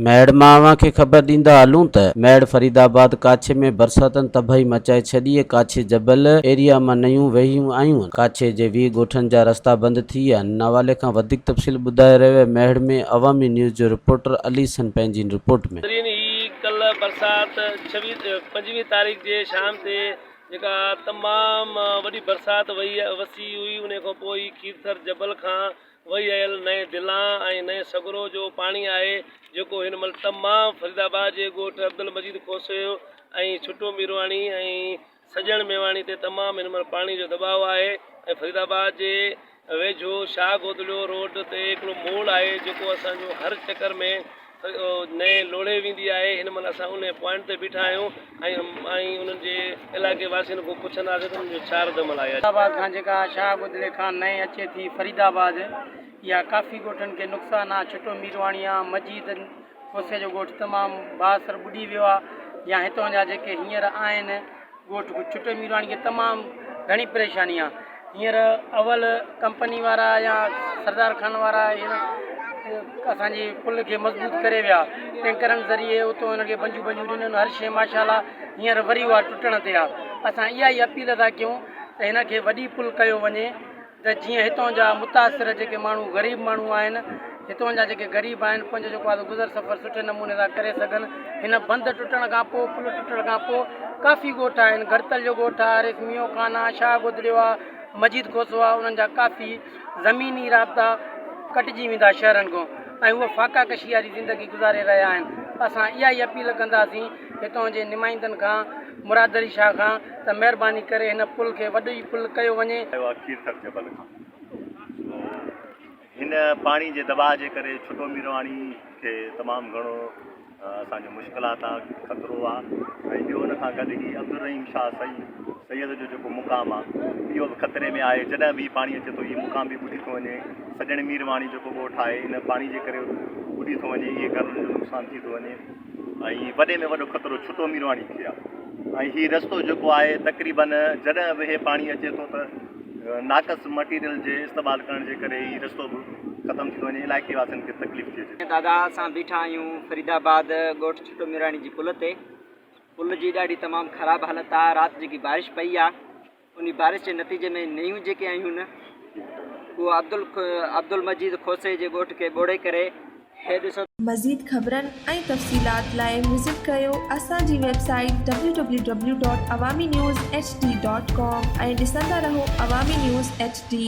ميڙ مان اوهان کي خبر ڏيندا هلون ته ميڙ فريد آباد ڪاڇي ۾ برساتن تباهي مچائي ڇڏي ڪاڇي جبل ايريا مان نيون وهيون آيون ڪاڇي جي ويهه ڳوٺن جا رستا بند ٿي ويا ان حوالي کان وڌيڪ تفصيل ٻڌائي رهيو آهي ميڙ ۾ عوامي نيوز جو رپورٽر علي سن پنهنجي ان رپورٽ ۾. بھترين ھي ڪلھ برسات پنجويهه تاريخ جي شام تي جيڪا تمام وڏي برسات وئي وسي هئي انهي کان پوء هي کيرٿر جبل کان وهي آيل نئين دلان ۽ نئين سگرو جو پاڻي آهي جيڪو هن مهل تمام فريدآباد جي ڳوٺ عبدالمجيد کوسي ۽ ڇٽو ميرواڻي ۽ سڄڻ ميواڻي تي تمام هن مهل پاڻي جو دٻاء آهي ۽ فريد آباد جي ويجهو شاهه گودڙيو روڊ تي هڪڙو موڙ آهي جيڪو اسان جو هر چڪر ۾ نئين لوڙهي ويندي آهي هن مهل اسان انهي پوائنٽ تي بيٺا آهيون ۽ انهن جي علائقي واسين کان پڇنداسين ته انهن جو ڇا رد عمل آهي. فريد آباد کان جيڪا شاهه گودڙي کان نئين اچي ٿي فريد آباد اها ڪافي ڳوٺن کي نقصان آهي ڇٽو ميرواڻي آهي مجيد کوسي جو ڳوٺ تمام بااثر ٻڏي ويو آ يا هتان جا جيڪي هينئر آهن ڳوٺ ڪو ڇٽي ميراڻي کي تمام گهڻي پريشاني آ هينئر اول ڪمپني وارا يا سردار خان وارا هينئر اسان جي پل کي مضبوط ڪري ويا ٽينڪرن ذريعي اتو هن کي بنجو بنجو ڏنن هر شي ماشاءالله هينئر وري اها ٽٽڻ تي آ اسان اها ئي اپيل ٿا ڪيون ته هن کي وڏي پل ڪيو وڃي ته جيئن هتان جا متاثر جيڪي ماڻهو غريب ماڻهو آهن هتان جا جيڪي غريب آهن پنهنجو جيڪو آهي گذر سفر سٺي نموني سان ڪري سگهن هن بند ٽٽڻ کان پوء پل ٽٽڻ کان پوء ڪافي ڳوٺ آهن گهڙتل جو ڳوٺ آهي حارث ميون خان آهي شاهه گدڙيو آهي مجيد کوسو آهي انهن جا ڪافي زميني رابطا ڪٽجي ويندا شهرن کان ۽ هو فاقا ڪشي واري زندگي گذاري رهيا آهن اسان اها ئي اپيل ڪنداسين هتان جي نمائندن کان مراد علي شاهه کان ته مهرباني ڪري هن پل کي وڏو ئي پل ڪيو وڃي. آيو آهي کيرٿر جبل کان سو هن پاڻي جي دٻاء جي ڪري ڇٽو ميرواڻي کي تمام گهڻو اسان جو مشڪلات آ خطرو آ ۽ ٻيو ان کان گڏ هي عبدالرحيم شاهه سئي سيد جو جيڪو مقام آ اهو به خطري ۾ آهي جڏهن به هي پاڻي اچي ٿو هي مقام به ٻڏي ٿو وڃي سڄڻ ميرواڻي جيڪو ڳوٺ آهي هن پاڻي جي ڪري ٻڏي ٿو وڃي اهي گهرن جو نقصان ٿي ٿو وڃي. ۽ وڏي ۾ وڏو خطرو ڇٽو ميرواڻي کي آهي ۽ هي رستو جيڪو آهي تقريبن جڏهن به هي پاڻي اچي ٿو ته ناقص مٽيريل جي استعمال ڪرڻ جي ڪري هي رستو به ختم ٿي وڃي علائقي واسين کي تڪليف ٿي اچي. دادا اسان بيٺا آهيون فريد آباد ڳوٺ ڇٽو ميرواڻي جي پل تي پل جي ڏاڍي تمام خراب حالت آهي رات جيڪي بارش پئي آهي انهي بارش جي نتيجي ۾ نيون جيڪي آهيون نه اهو عبدالمجيد کوسي جي ڳوٺ کي ٻوڙي ڪري هي ڏسو. مزيد خبرن ۽ تفصيلات لاء وزٽ ڪيو اسان جي website W W W dot Awami news H D dot com ۽ ڏسندا رهو عوامي نيوز ايڇ ڊي.